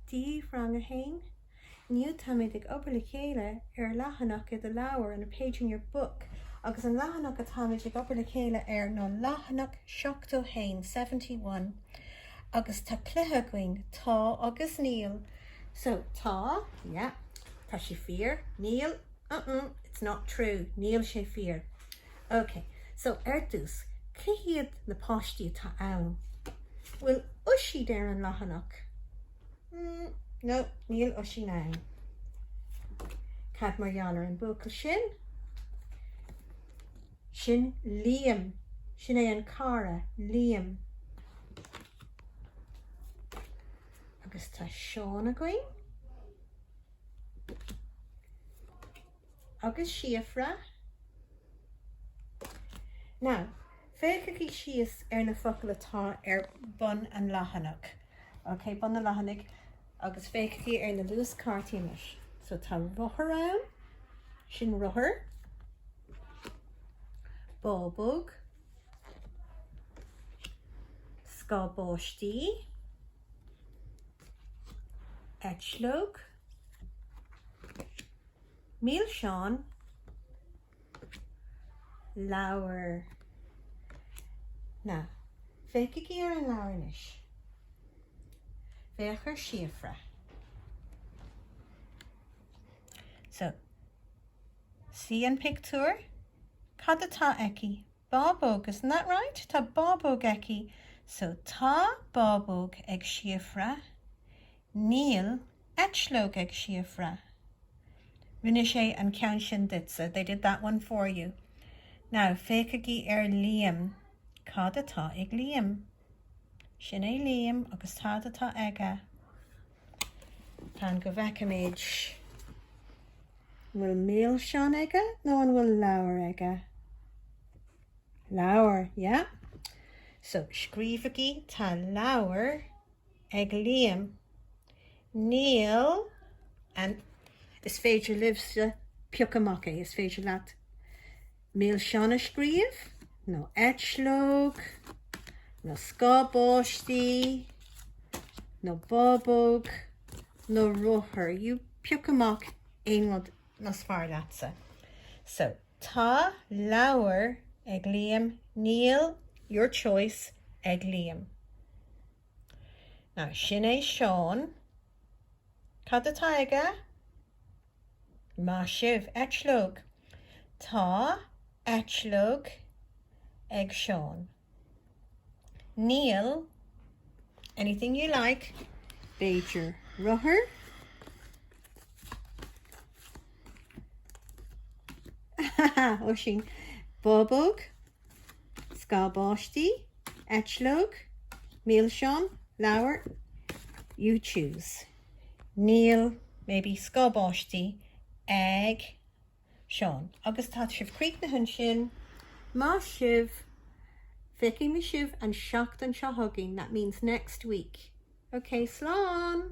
Dia daoibh Rang 1, Inniu táimid ag obair le chéile ar leathanach i do leabhar, on a page in your book, agus an leathanach atáimid ag obair le chéile air ná leathanach 71, 71, agus tá cluiche againn, tá agus níl, so, tá, yeah, tá sé fíor, níl, uh-uh, it's not true, níl sé fíor. Ok, so ar dtús, cé hiad na páistí atá ann? Bhfuil Oisín ar an leathanach? No, níl Oisín ann. Cad mar gheall ar an mbuachaill sin? Sin Liam. Sin é an cara, Liam. Agus tá Seán againn. Agus Síofra. Now, féachaigí síos ar na focail atá ar bun an leathanach, ok, bun an leathanaigh, agus féachaigí ar na luaschártaí anois. So tá rothar ann, sin rothar, bábóg, scáth báistí, eitleog, Milseáin, leabhar. Now, féachaigí ar an leabhar anois. Féach ar Síofra. So, see an pictiúr? Cad atá aici? Bábóg, isn't that right? Tá bábóg aici. So, tá bábóg ag Síofra. Níl eitleog ag Síofra. Rinne sé an ceann sin duitse, they did that one for you. Now, féachaigí ar Liam. Cad atá ag Liam? Sin é Liam agus cad atá aige? Fan go bhfeicfimid. An bhfuil milseáin aige nó an bhfuil leabhar aige? Leabhar, yeah. So, scríobhaigí tá leabhar. ag Liam, Níl and is féidir libhse piocadh amach é. Is féidir leat milseáin a scríobh, nó eitleog, nó scáth báistí, nó bábóg, nó rothar. You pioc amach aon rud is fearr leatsa. So, Tá leabhar ag Liam, Níl your choice ag Liam. Now sin é Seán. Cad atá aige? Maith sibh, eitleog. Tá eitleog ag Seán. Níl. Anything you like. B'fhéidir rothar? Oisín, bábóg? Scáth báistí, eitleog, milseán, leabhar, you choose. Níl, maybe, scáth báistí ag Seán. Agus tá sibh críochnaithe ansin. Maith sibh! Feicfidh mé sibh an tseachtain seo chugainn, that means next week. Okay, slán!